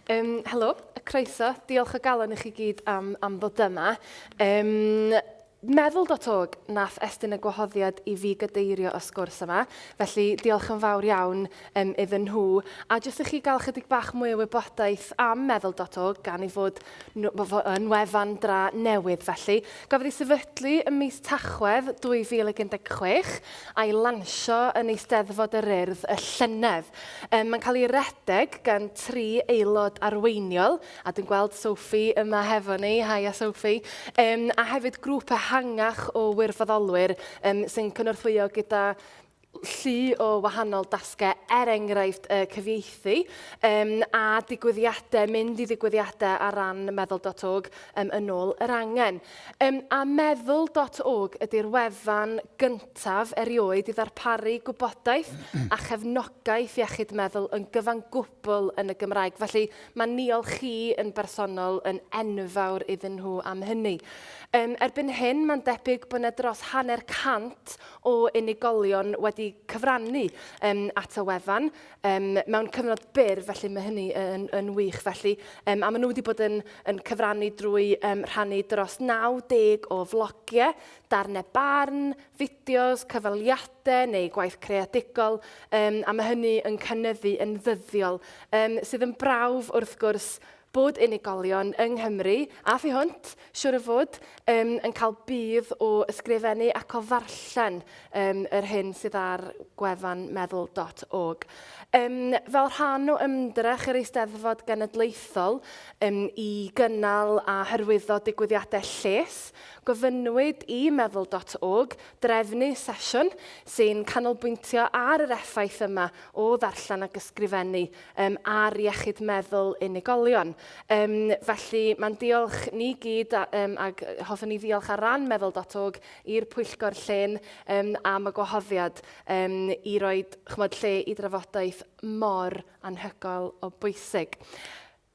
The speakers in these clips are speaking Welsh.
Um, helo, croeso. Diolch o galon i chi gyd am, am ddod yma. Um, meddwl dot org nath estyn y gwahoddiad i fi gadeirio y sgwrs yma, felly diolch yn fawr iawn um, iddyn nhw. A jyst i chi gael chydig bach mwy o wybodaeth am meddwl dot org gan ei fod nhw yn wefan dra newydd felly. Gafodd ei sefydlu ym mis Tachwedd 2016 a'i lansio yn Eisteddfod yr Urdd y llynedd. Yym, mae'n cael ei redeg gan tri aelod arweiniol, a dwi'n gweld Sophie yma hefo ni, haia Sophie, um, a hefyd grŵp ehangach o wirfoddolwyr um, sy'n cynorthwyo gyda llu o wahanol dasgau, er enghraifft uh, cyfieithu um, a digwyddiadau, mynd i ddigwyddiadau ar ran meddwl.org um, yn ôl yr angen. Um, a meddwl.org ydy'r wefan gyntaf erioed i ddarparu gwybodaeth a chefnogaeth iechyd meddwl yn gyfan gwbl yn y Gymraeg. Felly mae niol chi yn bersonol yn enfawr iddyn nhw am hynny. Um, erbyn hyn mae'n debyg bod yna dros hanner cant o unigolion wedi cyfrannu um, at y wefan um, mewn cyfnod byr, felly mae hynny yn, yn wych. Felly, um, a maen nhw wedi bod yn, yn cyfrannu drwy um, rhannu dros 90 o flogiau, darnau barn, fideos, cyfaliadau neu gwaith creadigol, um, a mae hynny yn cynnyddu yn ddyddiol, um, sydd yn brawf wrth gwrs bod unigolion yng Nghymru, a thu hwnt, siwr o fod, um, yn cael budd o ysgrifennu ac o ddarllen um, yr hyn sydd ar gwefan meddwl.org. Um, fel rhan o ymdrech yr Eisteddfod Genedlaethol um, i gynnal a hyrwyddo digwyddiadau lles, gofynnwyd i meddwl.org drefnu sesiwn sy'n canolbwyntio ar yr effaith yma o ddarllen ac ysgrifennu um, ar iechyd meddwl unigolion. Um, felly mae'n diolch ni gyd a, um, ac hoffwn ni ddiolch ar ran meddwl.org i'r pwyllgor llun um, am y gwahoddiad um, i roi chmod, lle i drafodaeth mor anhygoel o bwysig.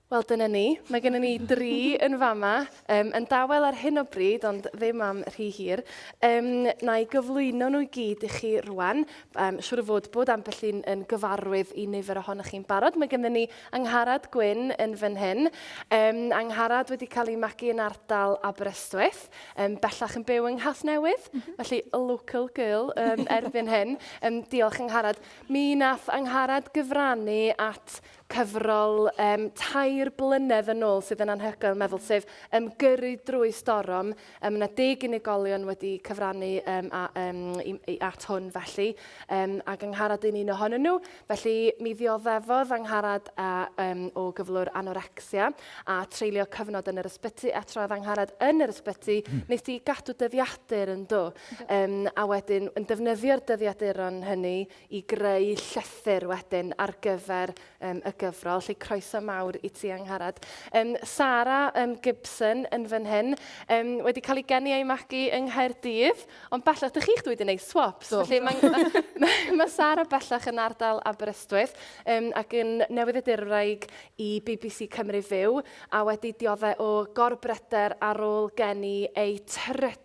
Wel, dyna ni. Mae gennym ni dri yn fama, um, yn dawel ar hyn o bryd, ond ddim am rhy hir. Um, na i gyflwyno nhw i gyd i chi rwan. Mae'n siŵr o fod bod ambell un yn gyfarwydd i nifer ohonoch chi'n barod. Mae gennym ni Angharad Gwyn yn fan hyn. Um, Angharad wedi cael ei magu yn ardal Aberystwyth, um, bellach yn byw yng Nghas Newydd, mm -hmm. felly a local girl um, erbyn hyn. Um, diolch Angharad. Mi nath Angharad gyfrannu at cyfrol um, tair blynedd yn ôl sydd yn anhygoel meddwl, sef um, Gyrru drwy storom. Um, yna deg unigolion wedi cyfrannu um, a, um, i, i, at hwn felly, um, a gyngharad yn un ohonyn nhw. Felly mi ddioddefodd angharad a, um, o gyflwr anorexia a treulio cyfnod yn yr ysbyty a troedd angharad yn yr ysbyty, hmm. nes di gadw dyddiadur yn do. Um, a wedyn yn defnyddio'r dyddiaduron hynny i greu llythyr wedyn ar gyfer um, y gyfrol. Felly croeso mawr i ti, Angharad. Um, Sarah um, Gibson yn fan hyn, um, wedi cael ei geni a'i magu yng Nghaerdydd, ond bellach, dych chi'ch dwi wedi gwneud swaps. Do. Felly mae ma, ma Sarah bellach yn ardal Aberystwyth um, ac yn newydd edurwraig i BBC Cymru Fyw a wedi diodde o gorbryder ar ôl geni ei trydydd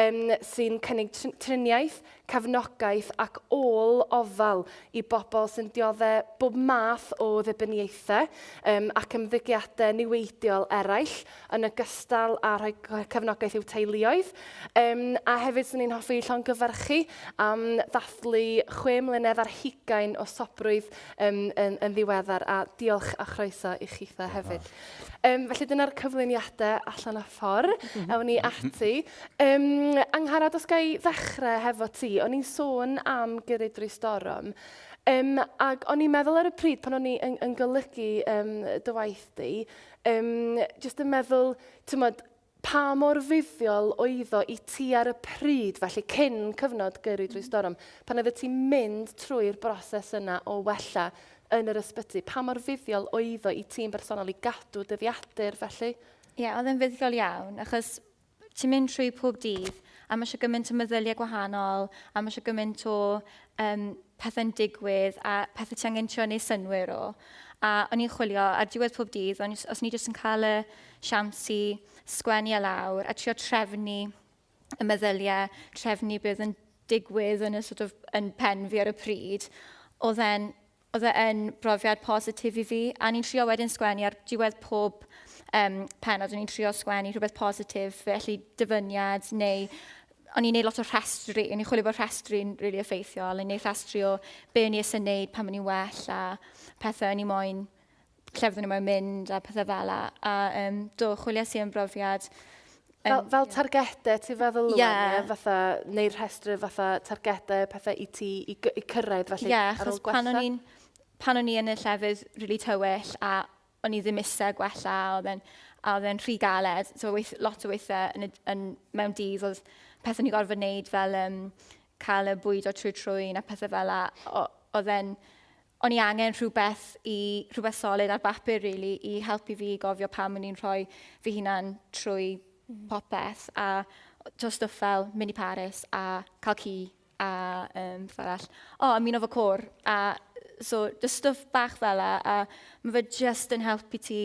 um, sy'n cynnig triniaeth, cefnogaeth ac ôl ofal i bobl sy'n dioddau bob math o ddibyniaethau um, ac ymddygiadau niweidiol eraill, yn ogystal â rhoi cefnogaeth i'w teuluoedd. Um, a hefyd, swn i'n hoffi llongyfarchu am ddathlu chwe mlynedd ar hugain o sobrwydd um, yn, yn ddiweddar, a diolch a chroeso i chitha hefyd. Um, felly dyna'r cyflwyniadau allan a ffor. Mhm. Ewn ni ati. Um, Anghara, os ga i ddechrau hefo ti, o'n i'n sôn am gyrru drwy storom. Um, ac o'n i'n meddwl ar y pryd pan o'n i yn, yn golygu um, dy waith di, um, jyst yn meddwl, ti'n modd, Pa mor fuddiol oeddo i ti ar y pryd, felly cyn cyfnod Gyrru Drwy Storm, pan oeddet ti'n mynd trwy'r broses yna o wella yn yr ysbyty, pa mor fuddiol oeddo i ti'n bersonol i gadw dyddiadur felly? Ie, oedd e'n fuddiol iawn, achos ti'n mynd trwy pob dydd, a mae eisiau gymaint o meddyliau gwahanol, a mae eisiau gymaint o um, pethau'n digwydd, a pethau ti angen trio neu synwyr o. A o'n i'n chwilio ar diwedd pob dydd, o'n, os o'n i jyst yn cael y siawns i sgwennu e lawr a trio trefnu y meddyliau, trefnu beth yn digwydd yn, y, sort of, yn pen fi ar y pryd, oedd e'n oedd e yn brofiad positif i fi. A ni'n trio wedyn sgwennu ar diwedd pob um, penod, o'n i'n trio sgwennu rhywbeth positif, felly dyfyniad neu o'n i'n neud lot o rhestri, o'n i'n chwilio bod rhestri'n rili really effeithiol, o'n i'n neud rhestri o be o'n i eisiau neud pan o'n i'n well a pethau o'n i moyn lle fydden nhw moyn mynd a pethau fel la. A um, do, chwiliais i am brofiad Fel, fel targedau ti'n feddwl Lwen, yeah. ie? Fatha, neu rhestru fatha targedau, pethau i ti, i, i cyrraedd felly yeah, ar ôl gwella? Pan o'n pan o'n i yn y llefydd rili really tywyll a o'n i ddim eisiau gwella a oedd e'n a oedd e'n rhy galed. So weith, lot o weithiau yn, yn, mewn dydd oedd pethau ni gorfod wneud fel um, cael y bwyd o trwy trwy na pethau fel la. Oedd e'n o'n i angen rhywbeth i, rhywbeth solid ar bapur really, i helpu fi i gofio pam o'n i'n rhoi fy hunan trwy mm. popeth a to stuff fel mini Paris a cael ci a um, beth arall. O, oh, ymuno fo cwr a so just stuff bach fel a, a mae fe just yn helpu ti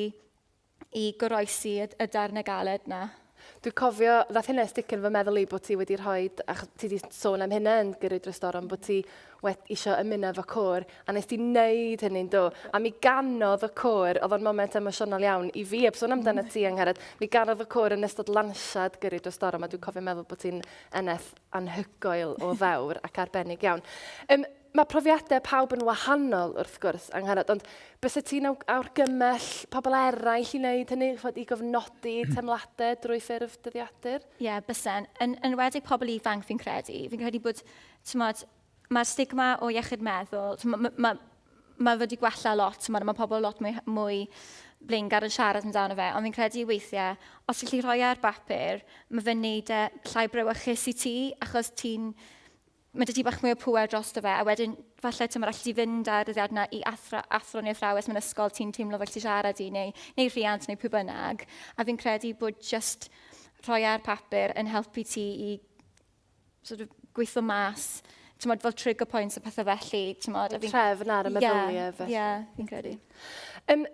i goroesi y, y darn y galed na. Dwi'n cofio, ddath hynna stick yn fy meddwl i bod ti wedi rhoi, a ti wedi sôn am hynna yn gyrru dros doron, bod ti wedi eisiau ymuno efo cwr, a nes ti wneud hynny'n do. A mi ganodd y cwr, oedd o'n moment emosiynol iawn i fi, eb sôn amdano mm. ti angharad, mi ganodd y cwr yn ystod lansiad gyrru dros doron, a dwi'n cofio meddwl bod ti'n eneth anhygoel o ddewr ac arbennig iawn. Um, Mae profiadau pawb yn wahanol, wrth gwrs, Angharad, ond bysa ti'n awrgymell pobl eraill i wneud hynny, chod, i gofnodi hmm. temladau drwy ffurf dyddiadur? Ie, yeah, bysen. Yn, yn wedi pobl ifanc, fi'n credu. Fi'n credu bod, tymod, mae'r stigma o iechyd meddwl, mae ma, ma, ma wedi gwella lot, tymod, mae pobl lot mwy, mwy blaengar yn siarad amdano fe, ond fi'n credu weithiau, os ydych chi rhoi e ar bapur, mae fe'n neud e llai brewychus i ti, achos ti'n mae dy ti bach mwy o pŵer dros dy fe, a wedyn falle ti'n allu di fynd ar y ddiad na i athro, athro neu athrawes mewn ysgol ti'n teimlo fel ti siarad i, neu, neu rhiant neu pwy bynnag. A fi'n credu bod just rhoi e ar papur yn helpu ti i sort of, gweithio mas tymod, fel trigger points a pethau felly. Tymod, a fi'n... Trefn ar y meddyliau yeah, felly. Ie, yeah, fi'n credu. Um,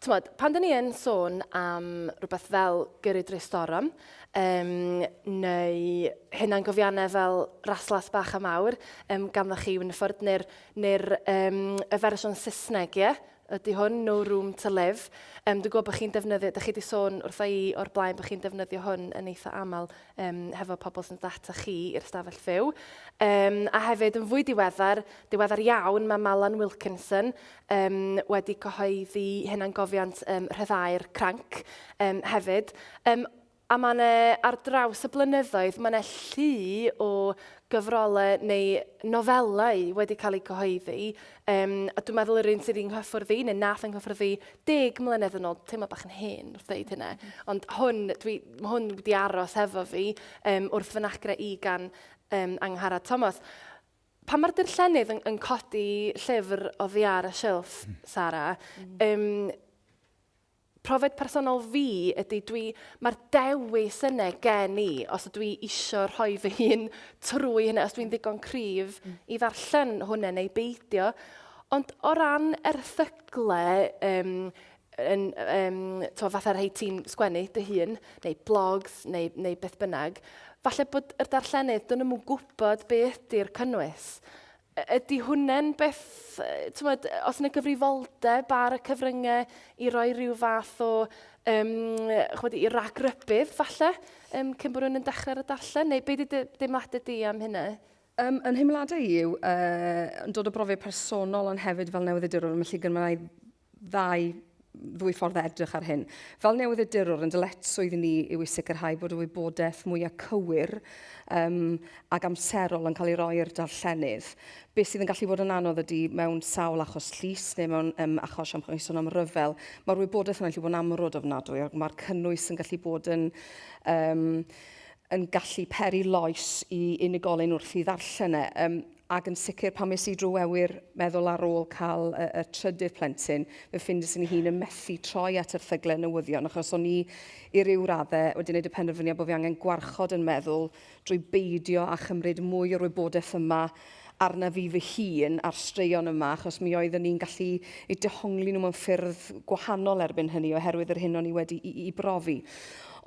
Tymod, pan dyn ni yn sôn am rhywbeth fel gyrru drwy storm, um, neu hynna'n gofiannau fel raslas bach a mawr, um, ganddoch chi Winford, neu'r neu um, y fersiwn Saesneg, ie? Ydy hwn, No Room to Live. Um, dwi'n gwybod bod chi'n defnyddio, da chi wedi sôn wrtho i o'r blaen bod chi'n defnyddio hwn yn eitha aml um, hefo pobl sy'n data chi i'r stafell fyw. Um, a hefyd, yn fwy diweddar, diweddar iawn, mae Malan Wilkinson um, wedi cyhoeddi hunangofiant um, rhyddhau'r cranc um, hefyd. Um, a mae yna ar draws y blynyddoedd, mae yna llu o gyfrolau neu nofelau wedi cael eu cyhoeddi. Um, a dwi'n meddwl yr un sydd yng nghyffwrdd i, neu nath yng nghyffwrdd i, deg mlynedd yn ôl, teimlo bach yn hen wrth ddeud hynna. Ond hwn, dwi, hwn wedi aros hefo fi um, wrth fy nagra i gan um, Angharad Thomas. Pan mae'r dirllennydd yn, yn codi llyfr o ddiar y silff, hmm. Sara, um, profiad personol fi ydy dwi, mae'r dewis yna gen i, os ydw i eisiau rhoi fy hun trwy hynny, os dwi'n ddigon cryf hmm. i ddarllen hwnna neu beidio. Ond o ran erthyglau, um, yn, um, to, fatha rhai ti'n sgwennu dy hun, neu blogs, neu, neu beth bynnag, falle bod yr darllenydd, dyn nhw'n gwybod be ydy'r cynnwys. Ydy hwnna'n beth, tywed, os yna gyfrifoldeb ar y cyfryngau i roi rhyw fath o, um, chwedi, i ragrybydd, falle, um, cyn bod nhw'n yn dechrau ar y darllen, neu beth ydy deimladau di am hynna? Um, yn hymladau yw, uh, yn dod o brofiad personol ond hefyd fel newyddiadurwr, mae lle gynmau ddau ddwy ffordd o edrych ar hyn. Fel newyddiadurwr, yn dyledswydd i ni yw i sicrhau bod y wybodaeth mwyaf cywir um, ac amserol yn cael ei roi i'r darllenydd. Beth sydd yn gallu bod yn anodd ydy mewn sawl achos llys neu mewn um, achos am sôn am ryfel, mae'r wybodaeth yna'n gallu bod yn amrwd ofnadwy ac mae'r cynnwys yn gallu bod yn um, yn gallu peri loes i unigolyn wrth i ddarllen e. Um, ac yn sicr pan es i drwy awyr meddwl ar ôl cael y, y trydydd plentyn, fe ffindes yn hun yn methu troi at erthyglau newyddion, achos o'n i i ryw raddau wedi gwneud y penderfyniad bod fi angen gwarchod yn meddwl drwy beidio â chymryd mwy o'r wybodaeth yma arna fi fy hun a'r straeon yma, achos mi oeddwn i'n gallu eu dehongli nhw mewn ffyrdd gwahanol erbyn hynny oherwydd yr hyn o'n i wedi i, i brofi.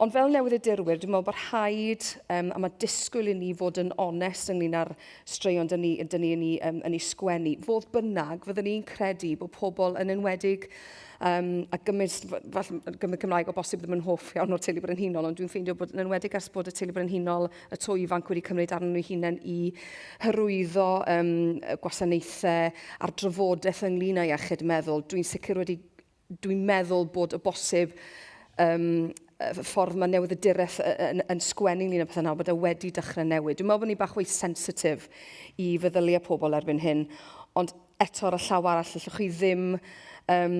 Ond fel newyddiadurwyr, dwi'n meddwl bod rhaid, um, a mae disgwyl i ni fod yn onest ynglyn â'r straeon dyn ni, dyn ni yn, ei, um, yn ei sgwennu. Fodd bynnag, fyddwn ni'n credu bod pobl yn enwedig um, a gymys, falle gymryd Cymraeg o bosib ddim yn hoff iawn o'r teulu brenhinol, ond dwi'n ffeindio bod yn enwedig ers bod y teulu brenhinol y to ifanc wedi cymryd arnyn nhw hunain i hyrwyddo um, gwasanaethau a'r drafodaeth ynglyn â iechyd meddwl, dwi'n sicr wedi Dwi'n meddwl bod o bosib um, y ffordd mae newyddydureth yn, yn sgwennu ynglyn â pethau nawr, bod e wedi dechrau newid. Dwi'n meddwl bod ni bach o'i sensitif i feddyliau pobl erbyn hyn, ond eto ar y llaw arall, allwch chi ddim um,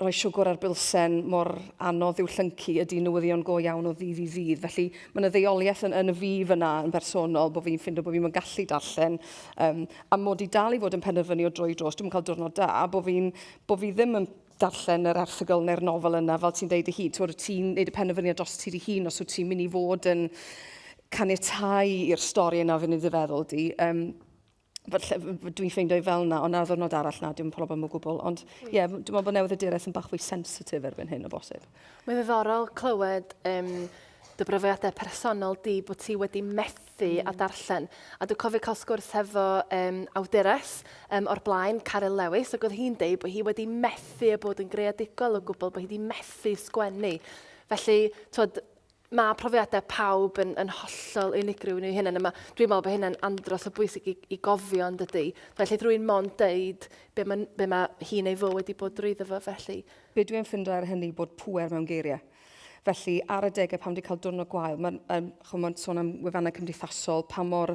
rhoi siwgr ar bilsen mor anodd i'w llyncu ydy newyddion go iawn o ddydd i ddydd. Felly mae yna ddeoliaeth yn, yn y fi fyna yn bersonol bod fi'n ffindo bod fi'n gallu darllen um, a mod i dal i fod yn penderfynu o droi dros, dwi'n cael diwrnod da, bod fi'n bo' fi ddim yn darllen yr erthygl neu'r nofel yna, fel ti'n deud dy hun. Ti'n ti neud y penderfyniad dros ti dy hun os wyt ti'n mynd i fod yn caniatau i'r stori yna fynd i dy feddwl di. Um, dwi'n ffeindio i fel yna, ond ar ddwrnod arall na, dwi'n problem o gwbl. Ond ie, yeah, dwi'n meddwl bod newydd y direth yn bach fwy sensitif erbyn hyn o bosib. Mae'n ddiddorol clywed um, dy brofiadau personol di bod ti wedi methu dysgu a darllen. A dwi'n cofio cael sgwrs hefo um, awdures um, o'r blaen, Caryl Lewis, ac oedd hi'n deud bod hi wedi methu a bod yn greadigol o gwbl, bod hi wedi methu sgwennu. Felly, twod, mae profiadau pawb yn, yn hollol unigryw nhw hyn, yma. Dwi'n meddwl bod hynny'n andros o bwysig i, i gofio yn dydy. Felly drwy'n mond deud be mae, be mae hi'n ei fo wedi bod drwyddo fo felly. Be dwi'n ffindo ar hynny bod pwer mewn geiriau. Felly, ar adegau pan wedi cael diwrnod gwael, mae'n um, chymod, sôn am wefannau cymdeithasol, pa mor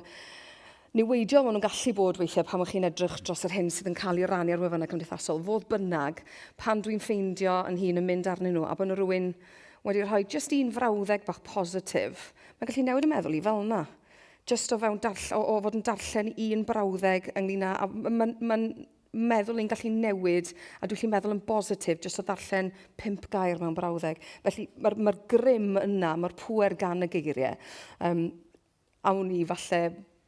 niweidiol maen nhw'n gallu bod weithiau pan chi'n edrych dros yr hyn sydd yn cael ei rannu ar wefannau cymdeithasol. Fodd bynnag, pan dwi'n ffeindio yn hun yn mynd arnyn nhw, a bod nhw rhywun wedi rhoi jyst un frawddeg bach positif, mae'n gallu newid y meddwl i fel yna. Jyst o, fewn darll o, o fod yn darllen un brawddeg ynglyn â... Mae'n ma, ma meddwl yn gallu newid a dwi'n gallu meddwl yn bositif jyst o ddarllen pump gair mewn brawddeg. Felly mae'r ma grym yna, mae'r pwer gan y geiriau. Um, awn ni falle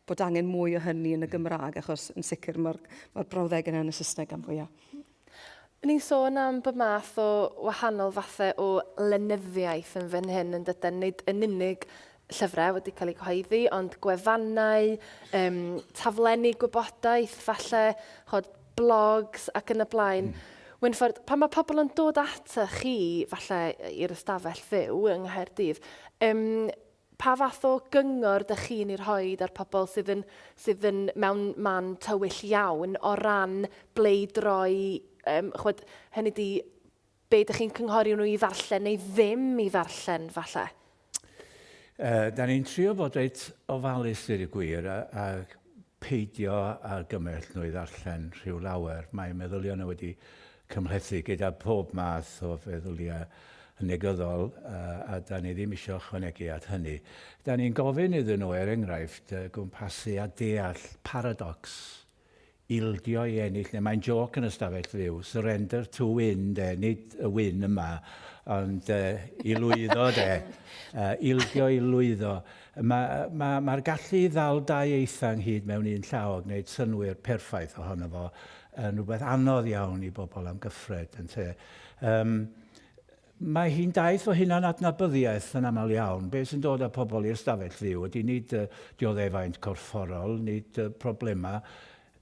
bod angen mwy o hynny yn y Gymraeg, achos yn sicr mae'r ma brawddeg yna yn y Saesneg am fwyaf. Ni'n sôn am bod math o wahanol fathau o lenyddiaeth yn fan hyn yn dydyn, nid yn unig llyfrau wedi cael eu cyhoeddi, ond gwefannau, um, taflenni gwybodaeth, falle chod, blogs ac yn y blaen. Mm. Wynffordd, pan mae pobl yn dod ata chi, falle i'r ystafell fyw yng Nghaerdydd, um, pa fath o gyngor dych chi'n ei rhoi ar pobl sydd yn, sydd yn mewn man tywyll iawn o ran ble i droi, um, chwed, hynny di be dych chi'n cynghori nhw i ddarllen neu ddim i ddarllen, falle? Uh, da ni'n trio bod reit ofalus dweud y gwir a, a peidio a gymell nhw i ddarllen rhyw lawer. Mae meddyliau nhw wedi cymhlethu gyda pob math o feddyliau negyddol uh, a da ni ddim eisiau chwanegu at hynny. Da ni'n gofyn iddyn nhw, er enghraifft, uh, gwmpasu a deall paradox ildio i ennill neu mae'n jôc yn y stafell fyw, surrender to win de, nid y win yma, ond uh, i lwyddo de, uh, ildio i lwyddo. Mae'r ma, ma, ma gallu i ddal dau eitha ynghyd mewn un llaw a gwneud synwyr perffaith ohono fo yn rhywbeth anodd iawn i bobl am gyffred, yn te. Um, Mae hi'n daith o hunan-adnabyddiaeth yn aml iawn. Be sy'n dod â pobl i ystafell fyw ydy nid y dioddefaint corfforol, nid y problemau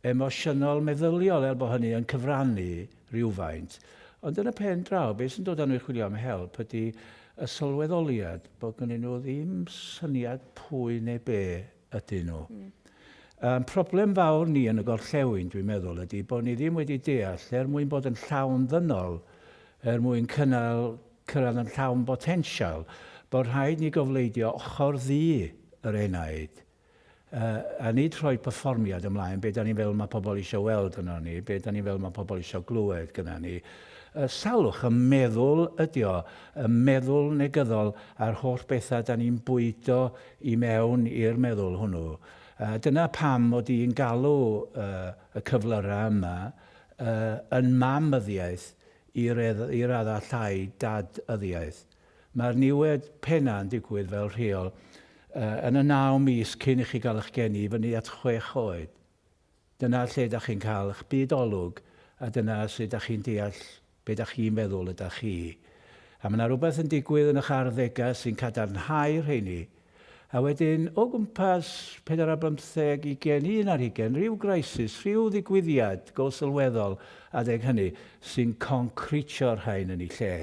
emosiynol meddyliol er bod hynny yn cyfrannu rhywfaint. Ond yn y pen draw, be sy'n dod â nhw i chwilio am help ydy y sylweddoliad bod gynnyn nhw ddim syniad pwy neu be ydyn nhw. Ein problem fawr ni yn y gorllewin, dwi'n meddwl, ydy bod ni ddim wedi deall, er mwyn bod yn llawn ddynol, er mwyn cynnal, cyrraedd yn llawn botensial, bod rhaid ni gofleidio ochr ddu yr enaid, a nid rhoi perfformiad ymlaen, be da ni'n feddwl mae pobl eisiau weld yno ni, be da ni'n feddwl mae pobl eisiau glywed gyda ni. Salwch y meddwl ydy o, y meddwl negyddol a'r holl bethau da ni'n bwydo i mewn i'r meddwl hwnnw. A dyna pam mod i'n galw y cyflyrau yma yn mam-yddiaeth i raddau llai dad-yddiaeth. Mae'r niwed pennau yn digwydd fel rheol yn y naw mis cyn i chi gael eich geni i fyny at chwech oed. Dyna lle da chi'n cael ych byd olwg a dyna sut da chi'n deall be da chi'n feddwl y da chi. A mae na rhywbeth yn digwydd yn ych arddegau sy'n cadarnhau rheini. A wedyn, o gwmpas pedair ar bymtheg, ugain, un ar hugain, rhyw grisis, rhyw ddigwyddiad go sylweddol adeg hynny sy'n concritio'r rhain yn eu lle.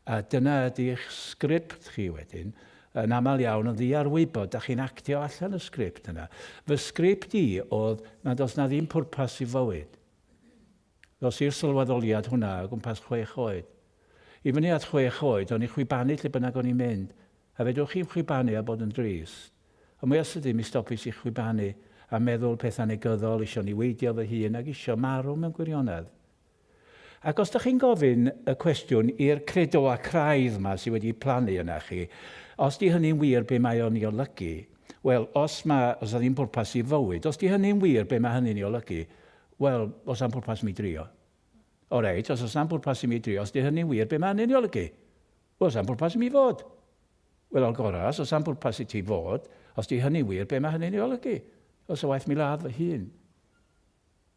A dyna ydi'ch sgript chi wedyn, yn aml iawn yn ddiarwybod, dach chi'n actio allan y sgript yna. Fy sgript i oedd nad oes 'na ddim pwrpas i fywyd. Ddos i'r sylweddoliad hwnna o gwmpas chwech oed. I fyny at chwech oed, o'n i'n chwibanu lle bynnag o'n i'n mynd. A fedrwch chi'm chwibanu a bod yn drist. Ond mwya sydyn mi stopis i chwibanu, a meddwl petha negyddol, isio niweidio fy hun, ac isio marw mewn gwirionedd. Ac os dych chi'n gofyn y cwestiwn i'r credoau craidd 'ma sydd wedi plannu yna chi, os 'di hynny'n wir be mae o'n ei olygu, wel, os ma', os 'na ddim pwrpas i fywyd, os 'di hynny'n wir be ma' hynny'n ei olygu, wel, oes 'na'm pwrpas i mi drio? O reit, os oes 'na'm pwrpas i mi drio, os 'di hynny'n wir be ma' hynny'n ei olygu? Wel, oes 'na'm pwrpas i mi fod. Wel, o'r gorau, os oes 'na'm pwrpas i ti fod, os 'di hynny'n wir be ma' hynny'n ei olygu? Wel, 'sa waeth mi ladd fy hun.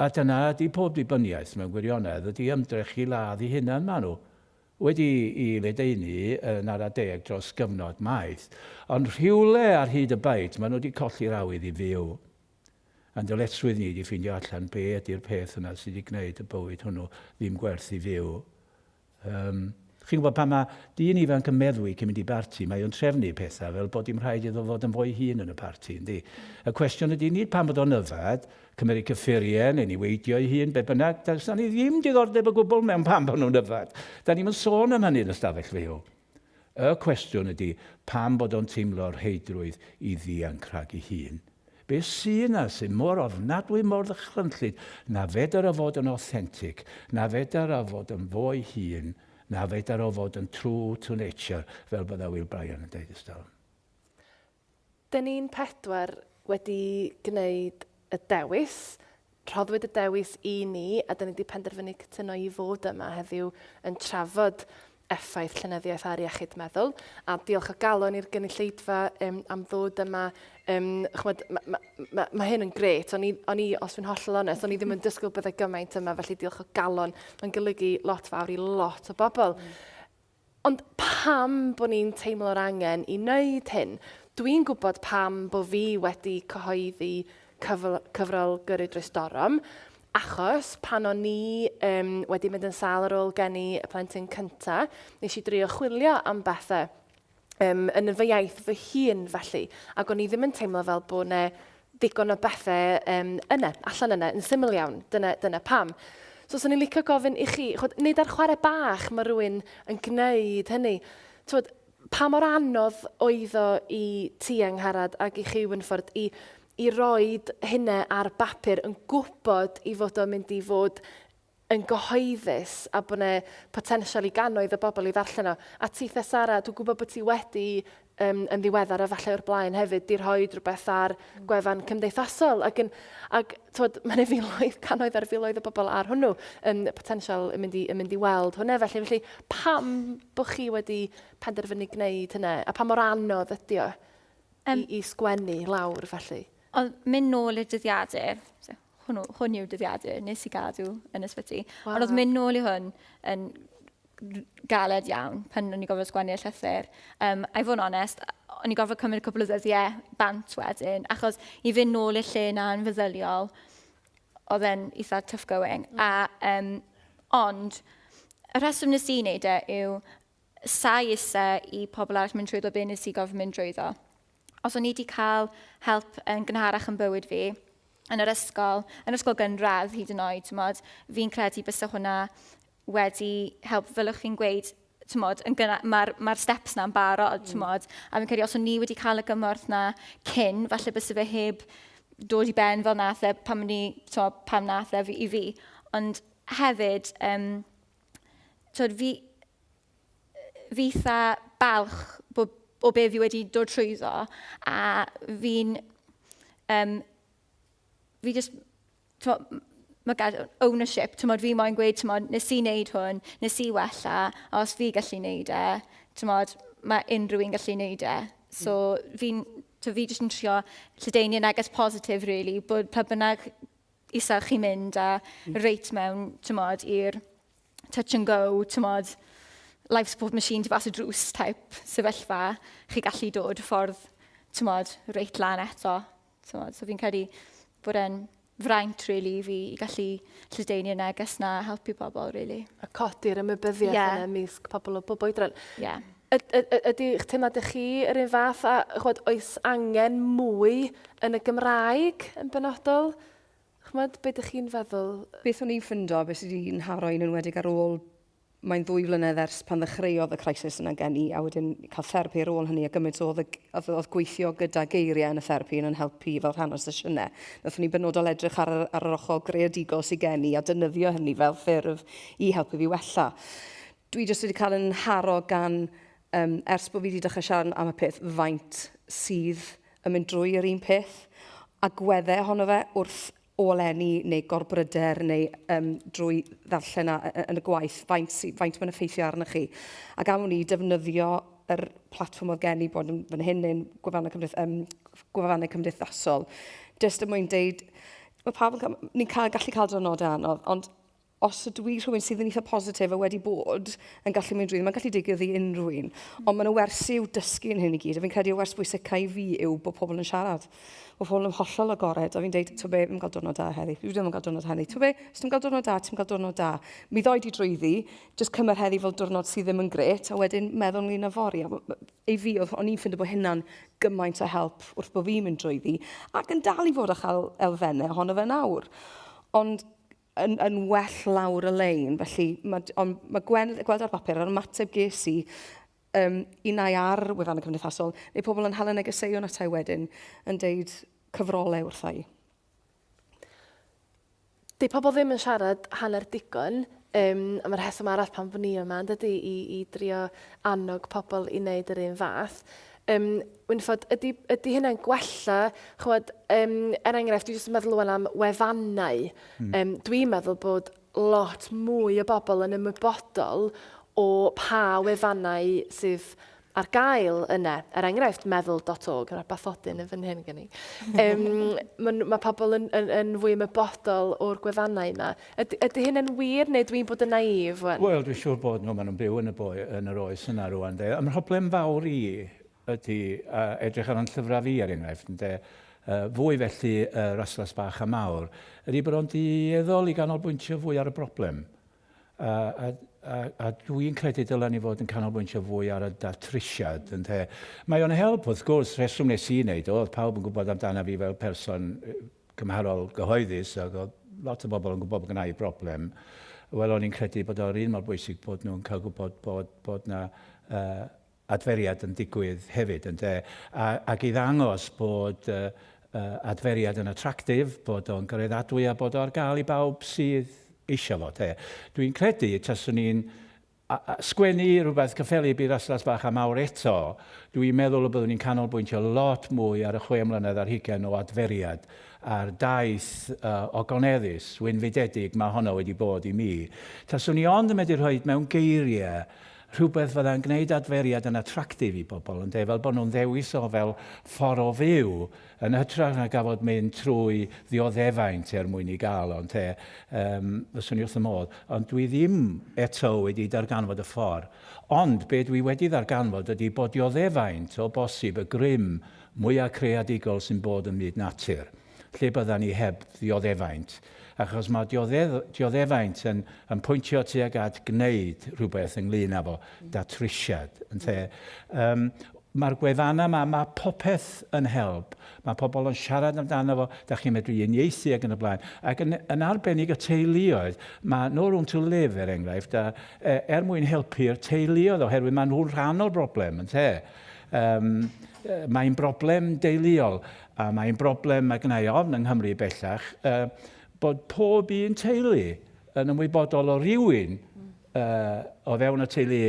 A dyna ydi pob dibyniaeth mewn gwirionedd, ydi ymdrech i ladd 'i hunan, ma' nhw wedi 'i ledaenu yn ara deg dros gyfnod maith, ond rhywle ar hyd y bait ma' nhw 'di colli'r awydd i fyw. A'n dyletswydd ni 'di ffindio allan be ydi'r peth yna sy 'di gneud y bywyd hwnnw ddim gwerth i fyw, Yym, chi'n gwybod, pan mae dyn ifanc yn meddwi cyn mynd i barti, mae o'n trefnu pethau fel bod dim rhaid iddo fod yn fo'i hun yn y parti, yndi? Y cwestiwn ydy nid pam bod o'n yfed, cymeryd cyffuriau neu niweidio'i hun, beth bynnag, does 'na ni ddim diddordeb o gwbl mewn pam bod nhw'n yfed. Da ni'm yn sôn am hynny yn y stafell fyw. Y cwestiwn ydi pam bod o'n teimlo rheidrwydd i ddianc rhag ei hun? Be sy yna sy mor ofnadwy mor ddychrynllyd na fedar o fod yn authentic, na fedar o fod yn fo'i hun, na fedar o fod yn true to nature fel bydda Will Bryan yn deud ers talwm? Dyn ni'n pedwar wedi gwneud y dewis, rhoddwyd y dewis i ni a dyn ni wedi penderfynu cytuno i fod yma heddiw yn trafod effaith llenyddiaeth ar iechyd meddwl a diolch o galon i'r gynulleidfa um, am ddod yma. Um, chmod, mae ma, ma, ma hyn yn gret, o'n i, on i os fi'n hollol onest, o'n i ddim yn dysgwyl byddai gymaint yma, felly diolch o galon, mae'n golygu lot fawr i lot o bobl. Mm. Ond pam bod ni'n teimlo'r angen i wneud hyn? Dw i'n gwybod pam bod fi wedi cyhoeddi cyfl cyfrol Gyrru Drwy Storm, achos pan o'n ni um, wedi mynd yn sâl ar ôl geni y plentyn cynta, nes i drio chwilio am bethau um, yn fy iaith fy hun felly, ac o'n i ddim yn teimlo fel bod yna ddigon o bethe um, yna, allan yna, yn syml iawn. Dyna, dyna pam. So, swn i'n licio gofyn i chi, chod, nid ar chwarae bach mae rhywun yn gwneud hynny. Twod, pa mor anodd oedd o i ti angharad ac i chi Wynford i, i roed hynna ar bapur yn gwybod i fod o'n mynd i fod yn gyhoeddus a bod 'na potensial i gannoedd o bobl i ddarllen o. A ti Thesara, dwi'n gwybod bod ti wedi um, yn ddiweddar a falle o'r blaen hefyd, di rhoi rhywbeth ar mm. gwefan cymdeithasol ac, yn, ac twod, mae'n filoedd, canoedd ar filoedd o bobl ar hwnnw yn potensial yn mynd i, yn mynd i weld hwnna. Felly, felly pam bod chi wedi penderfynu gwneud hynna a pa mor anodd ydy o um, i, i sgwennu lawr felly? Ond mynd nôl i'r dyddiadur, hwnnw, hwn yw dyddiadur nes i gadw yn ysbyty. Wow. Ond oedd mynd nôl i hwn yn galed iawn pan o'n i gofod sgwennu y llythyr. Um, I fod yn onest, o'n i gofod cymryd cwbl o ddyddiau bant wedyn, achos i fynd nôl i'r lle na yn feddyliol, oedd e'n eitha tough going. Mm. A, um, ond, y rheswm nes i wneud e yw, Sai isse i pobl arall mynd trwyddo be nes i gorfod mynd drwyddo. Os o'n i wedi cael help yn gynharach yn bywyd fi, yn yr ysgol, yn yr ysgol gynradd hyd yn oed, tymod, fi'n credu bysa hwnna wedi help, fel o'ch chi'n gweud, tymod, yn gynna- mae'r ma steps na'n barod, tymod, mm. a fi'n credu os o'n ni wedi cael y gymorth na cyn, falle bysa fe heb dod i ben fel nath e, pam, ni, tymod, pam nath e i fi. Ond hefyd, um, twyd, fi, fi eitha balch bo, o be fi wedi dod trwyddo a fi'n... Um, fi just... Mae gael ownership, tymod, fi moyn gweud, tymod, nes i wneud hwn, nes i wella, a os fi gallu wneud e, tymod, mae unrhyw un gallu wneud e. So, fi'n... Fi jyst yn trio lledaenu neges positif, really, bod pa bynnag isel chi'n mynd a hmm. reit mewn, tymod, i'r touch and go, tymod, life support machine tu fas y drws type sefyllfa, chi gallu dod ffordd, tymod, reit lan eto. Tymod, so fi'n credu bod e'n fraint, really, i fi i gallu lledaenu y neges na helpu pobl, really. A codi'r ymwybyddiaeth yeah. yna ymysg pobl o bobl oedran. Yeah. Ydych teimlad ych chi yr un fath a chwod oes angen mwy yn y Gymraeg yn benodol? Chwod, beth ydych chi'n feddwl? Beth o'n i'n ffindo, beth sydd wedi nharo i'n enwedig ar ôl, mae'n ddwy flynedd ers pan ddechreuodd y crisis yna gen i a wedyn cael therapi ar ôl hynny a gymaint oedd, oedd, oedd gweithio gyda geiriau yn y therapi yn yn helpu fel rhan o'r sesiynau. Nathon ni benodol edrych ar, ar yr ochr greadigol sydd gen i a dynyddio hynny fel ffurf i helpu fi wella. Dwi jyst wedi cael yn nharo gan, um, ers bod fi wedi dechrau siarad am y peth, faint sydd yn mynd drwy yr un peth, a gwedde ohono fe wrth olenni neu gorbryder neu um, drwy ddarllen yn y gwaith, faint, faint mae'n effeithio arnych chi. Ac am wni defnyddio yr platfform oedd gen i bod yn fan hyn neu'n gwefannau, cymdeith, um, gwefannau cymdeithasol. Just y er mwyn deud, mae pawb yn cael, ni'n cael, gallu cael dynodau anodd, ond os ydw i rhywun sydd yn eitha positif a wedi bod yn gallu mynd drwy, mae'n gallu digwydd i unrhyw un. Mm. Ond mae'n y wers i'w dysgu yn hyn i gyd, a fi'n credu y wers bwysicau i fi yw bod pobl yn siarad. Bod pobl yn hollol agored, a fi'n deud, ti'n be, fi'n cael diwrnod da heddi, fi ddim yn cael diwrnod heddi. Ti'n be, os ti'n cael diwrnod da, ti'n cael diwrnod da. Mi ddoi di drwyddi, jyst cymryd heddi fel diwrnod sydd ddim yn gret, a wedyn meddwl ni na fori. Ei fi, o'n i'n ffindio bod hynna'n gymaint o help wrth bod fi'n mynd drwyddi, ac yn dal i fod â chael elfennau ohono fe nawr. Ond yn, yn well lawr y lein. Felly, ma, ond mae Gwen, gweld ar bapur, ar ymateb ges i, um, unau ar wefan y cymdeithasol, neu pobl yn hala negeseuon atau wedyn yn deud cyfrolau wrthau. Di pobl ddim yn siarad hanner digon, um, a mae'r rheswm arall pan fy ni yma, yn dydy, i, i drio annog pobl i wneud yr un fath. um, Wynfod, ydy, ydy hynna'n gwella, chwod, um, er enghraifft, dwi jyst yn meddwl o'n am wefannau. Mm. Um, dwi'n meddwl bod lot mwy o bobl yn ymwybodol o pa wefannau sydd ar gael yna. Er enghraifft, meddwl.org, yna bathodyn yn fy nhyn gen i. Um, mae ma pobl yn, yn, yn fwy ymwybodol o'r gwefannau yma. Ydy, ydy hyn yn wir, neu dwi'n bod yn naïf wan? Wel, dwi'n siŵr bod nhw, maen nhw'n byw yn y boi, yn yr oes yna rwan, de. Y mhroblem fawr i ydy, a edrych ar fy llyfrau fi, er enghraifft, ynde, yy, fwy felly y Raslas Bach a Mawr, ydy bod o'n dueddol i ganolbwyntio fwy ar y broblem. A, a, a, a dwi'n credu dylen ni fod yn canolbwyntio fwy ar y datrysiad, ynde. Mae o'n help, wrth gwrs, rheswm nes i wneud o, oedd pawb yn gwybod amdana fi fel person cymharol gyhoeddus ac oedd lot o bobl yn gwybod bod gynna i broblem, wel o'n i'n credu bod o'r un mor bwysig bod nhw'n cael gwybod bod, bod na uh, adferiad yn digwydd hefyd yn de, a, ac i ddangos bod uh, uh, adferiad yn attractif, bod o'n gyreddadwy a bod o ar gael i bawb sydd eisiau fo. Dwi'n credu taswn i'n A sgwennu rhywbeth cyffelyb i Raslas Bach a Mawr eto, dw i'n meddwl y byddwn i'n canolbwyntio lot mwy ar y chwe mlynedd ar hugain o adferiad a'r daith ogoneddus, wynfydedig mae honno wedi bod i mi. Taswn i ond yn medru rhoi mewn geiriau rhywbeth fydda'n gwneud adferiad yn attractive i bobl, ynde, fel bod nhw'n ddewis o fel ffordd o fyw, Yn hytrach na gafod mynd trwy ddioddefaint er mwyn i gael ond te, yym, fyswn i wrth fy modd. Ond dwi ddim eto wedi darganfod y ffor. Ond be dwi wedi ddarganfod ydi bo dioddefaint o bosib y grym mwya creadigol sy'n bod ym myd natur. Lle byddan ni heb ddioddefaint? Achos ma diodde dioddefaint yn yn pwyntio tuag at gneud rhywbeth ynglŷn â fo, datrysiad, ynte? Yym. Mae'r gwefannau 'ma, mae popeth yn help. Mae pobl yn siarad amdano fo, dach chi'n medru unieithu ac yn y blaen. Ac yn yn arbennig y teuluoedd, mae No Room to Live er enghraifft, a, e, er mwyn helpu'r teuluoedd oherwydd maen nhw'n rhan o'r broblem ynte? Yym yy mae'n broblem deuluol a mae'n broblem mae gna i ofn yng Nghymru bellach yy bod pob un teulu yn ymwybodol o rywun o fewn y teulu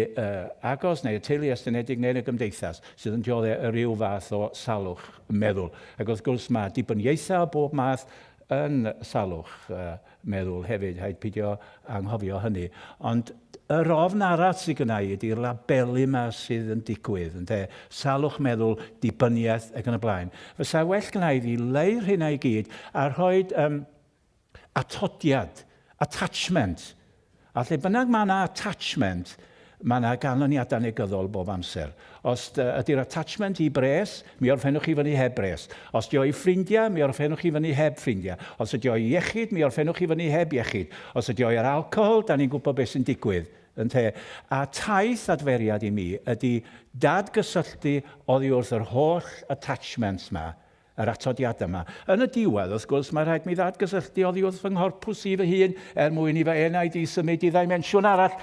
agos neu y teulu estynedig neu'n y gymdeithas sydd yn diodde' o ryw fath o salwch meddwl. Ac wrth gwrs mae dibyniaethau o bob math yn salwch meddwl hefyd, rhaid pidio anghofio hynny. Ond yr ofn arall sydd gynna' i ydy'r labelu 'ma sydd yn digwydd, ynde, salwch meddwl, dibyniaeth ac yn y blaen. Fysa well gynna' i fi leu rheina i gyd a rhoid yym Atodiad, attachment, a lle bynnag mae yna attachment, mae yna ganlyniadau negyddol bob amser. Os ydy'r attachment i bres, mi orffennwch chi fyny heb bres. Os ydy o i ffrindiau, mi orffennwch chi fyny heb ffrindiau. Os ydy o i iechyd, mi orffennwch chi fyny heb iechyd. Os ydy o i'r alcohol, da ni'n gwybod beth sy'n digwydd, ynte? A taith adferiad i mi ydy dadgysylltu oddi wrth yr holl attachments 'ma, yr atodiadau yma. Yn y diwedd, wrth gwrs, mae rhaid mi ddadgysylltu oddi wrth fy nghorpws i fy hun er mwyn i fy enaid i symud i ddimensiwn arall.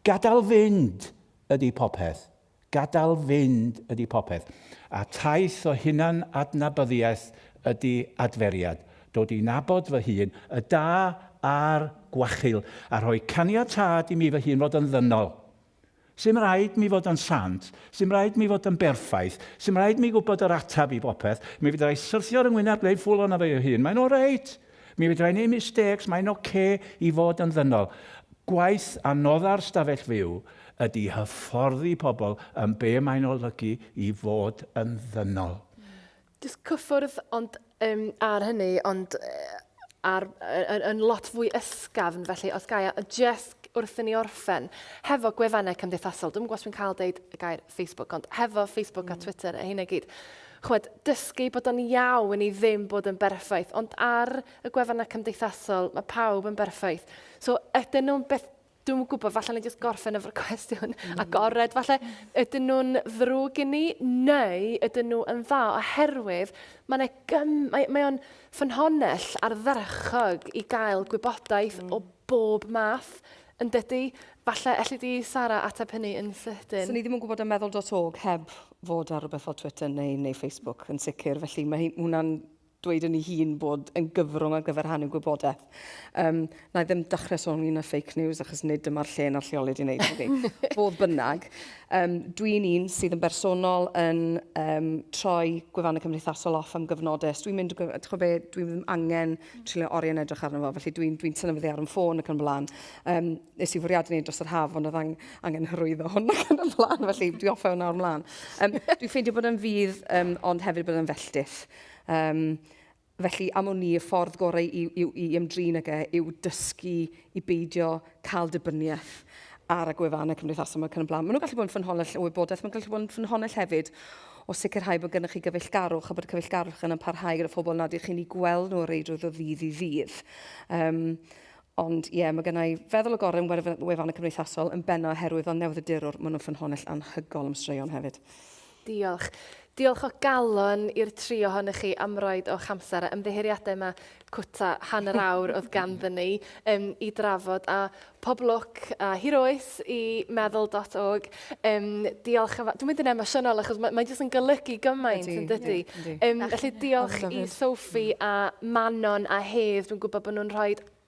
Gadael fynd ydy popeth. Gadael fynd ydy popeth. A taith o hunan adnabyddiaeth ydy adferiad. Dod i nabod fy hun, y da a'r gwachul, a rhoi caniatâd i mi fy hun fod yn ddynol. Sdim rhaid mi fod yn sant, sdim rhaid mi fod yn berffaith, sdim rhaid mi gwybod yr ateb i bopeth, mi fedra i syrthio ar 'y ngwyneb gwneud ffwl o'na fy ei hun, mae'n oreit! Mi fedra i 'neud mistakes, mae'n ocê i fod yn ddynol. Gwaith anodda'r stafell fyw ydi hyfforddi pobl yn be mae'n olygu i fod yn ddynol. Jyst cyffwrdd ond um, ar hynny, ond uh, ar, yn, yn lot fwy ysgafn, felly os gael, a just wrth i ni orffen, hefo gwefannau cymdeithasol, dwi'n gwybod dwi'n cael deud y gair Facebook, ond hefo Facebook mm. a Twitter a hyn i gyd, chwed, dysgu bod o'n iawn i ddim bod yn berffaith, ond ar y gwefannau cymdeithasol, mae pawb yn berffaith. So, ydyn nhw'n beth Dwi'm yn gwybod, falle ni jyst gorffen efo'r cwestiwn mm. agored. Falle ydyn nhw'n ddrwg i ni neu ydyn nhw yn dda oherwydd mae yna gym... Mae, mae o'n ffynhonell ardderchog i gael gwybodaeth mm. o bob math yn dydy. Falle, elli di, Sara, ateb hynny yn sydyn. So ni ddim yn gwybod am meddwl.org heb fod ar rhywbeth fel Twitter neu, neu Facebook yn sicr. Felly mae hwnna'n dweud yn ei hun bod yn gyfrwng ar gyfer rhannu gwybodaeth. Um, na i ddim dechrau sôn ynglyn â fake news achos nid dyma'r lle na'r lleoliad i wneud hynny. Fodd bynnag, um, dwi'n un sydd yn bersonol yn um, troi gwefannau cymdeithasol off am gyfnodau. Dwi'n mynd, ti'n be, dwi ddim angen trilio oriau yn edrych arno fo, felly dwi'n dwi, tynnu fyddi ar yn ffôn ac yn blaen. Um, nes i fwriad yn ei dros yr haf, ond oedd ang, angen hyrwyddo hwn ac yn y blaen, felly dwi offa hwnna o'r mlaen. Um, dwi'n ffeindio bod yn fydd, um, ond hefyd bod yn felltith. Um, felly, am wn i, y ffordd gorau i, i, i ymdrin ag e yw dysgu i beidio cael dibyniaeth ar y gwefannau cymdeithasol mae'n cynnig blaen. Maen nhw'n gallu bod yn ffynhonnell o wybodaeth, mae'n gallu bod yn ffynhonnell hefyd o sicrhau bod gennych chi gyfeillgarwch a bod cyfeillgarwch yn parhau gyda phobl nad ych chi'n ei gweld nhw o reidrwydd o ddydd i ddydd. Um, ond ie, yeah, mae gennau feddwl o gorau yn wefan y cymdeithasol yn benna oherwydd fel newydd y dirwr, maen nhw'n ffynhonnell anhygol am straeon hefyd. Diolch. Diolch o galon i'r tri ohonoch chi am roed o'ch amser a ymddiheuriadau mae cwta hanner awr oedd ganddyn ni um, i drafod a pob lwc a hir oes i meddwl.org. Um, diolch yn fawr. Dwi'n mynd yn emosiynol achos mae'n mae jyst yn golygu gymaint yn dydy. Um, felly diolch i Sophie a Manon a Hedd. Dwi'n gwybod bod nhw'n rhoi